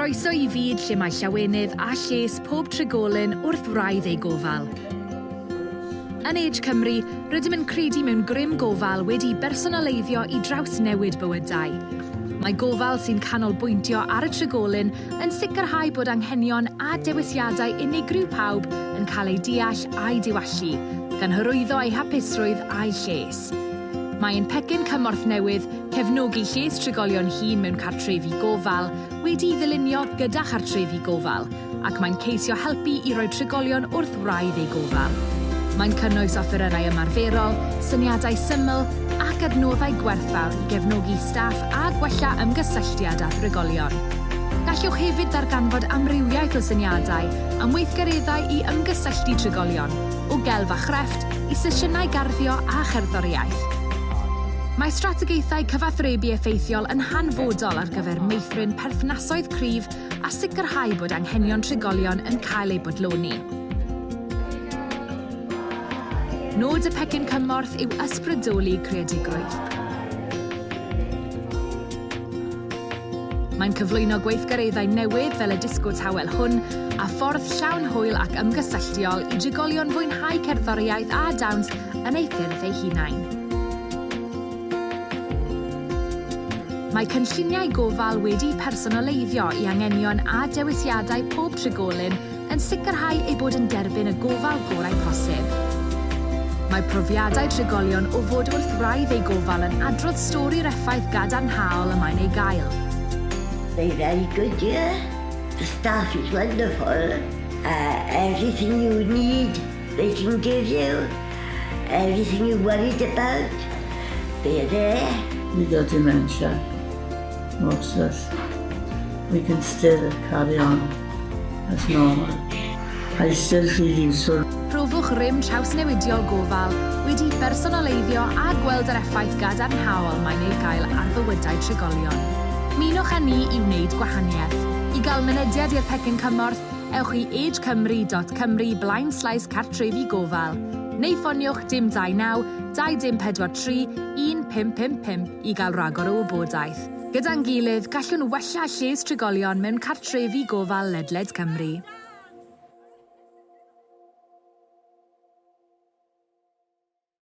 Croeso i fyd lle mae llawenydd a lles pob trigolyn wrth wraidd eu gofal. Yn Age Cymru, rydym yn credu mewn grym gofal wedi'i bersonaleiddio i drawsnewid bywydau. Mae gofal sy'n canolbwyntio ar y trigolyn yn sicrhau bod anghenion a dewisiadau unigryw pawb yn cael eu deall a'u diwallu, gan hyrwyddo eu hapusrwydd a'u lles. Mae ein pecyn cymorth newydd, Cefnogi Lles Trigolion Hŷn Mewn Cartrefi Gofal, wedi'i ddylunio gyda chartrefi gofal, ac mae'n ceisio helpu i roi trigolion wrth wraidd eu gofal. Mae'n cynnwys offerynnau ymarferol, syniadau syml, ac adnoddau gwerthfawr i gefnogi staff a gwella ymgysylltiad â thrigolion. Gallwch hefyd ddarganfod amrywiaeth o syniadau am weithgareddau i ymgysylltu trigolion, o gelf a chrefft i sesiynau garddio a cherddoriaeth. Mae strategaethau cyfathrebu effeithiol yn hanfodol ar gyfer meithrin perthnasoedd cryf a sicrhau bod anghenion trigolion yn cael eu bodloni. Nod y pecyn cymorth yw ysbrydoli creadigrwydd. Mae'n cyflwyno gweithgareddau newydd fel y disco tawel hwn a ffordd llawn hwyl ac ymgysylltiol i drigolion fwynhau cerddoriaeth a dawns yn eu ffyrdd eu hunain. Mae cynlluniau gofal wedi'u personoleiddio i angenion a dewisiadau pob trigolyn yn sicrhau eu bod yn derbyn y gofal gorau posib. Mae profiadau trigolion o fod wrth wraidd eu gofal yn adrodd stori'r effaith gadarnhaol y mae'n ei gael. Mae rhaid godi a the staff is wonderful uh, everything you need they can give you everything you worried about they're there with your dementia Moses we can still carry on a thraul, Eisteddfod Rhydd Isod. Profwch rym trawsnewidiol gofal, wedi'i bersonaleiddio a gweld yr effaith gadarnhaol mae'n ei gael ar fywydau trigolion. Ymunwch â ni i wneud gwahaniaeth. I gael mynediad i'r pecyn cymorth, ewch i agecymru dot cymru blaenslaes cartrefi gofal, neu ffoniwch dim 29 24 31 555 i gael rhagor o wybodaeth. Gyda'n gilydd, gallwn wella lles trigolion mewn cartrefi gofal ledled Cymru.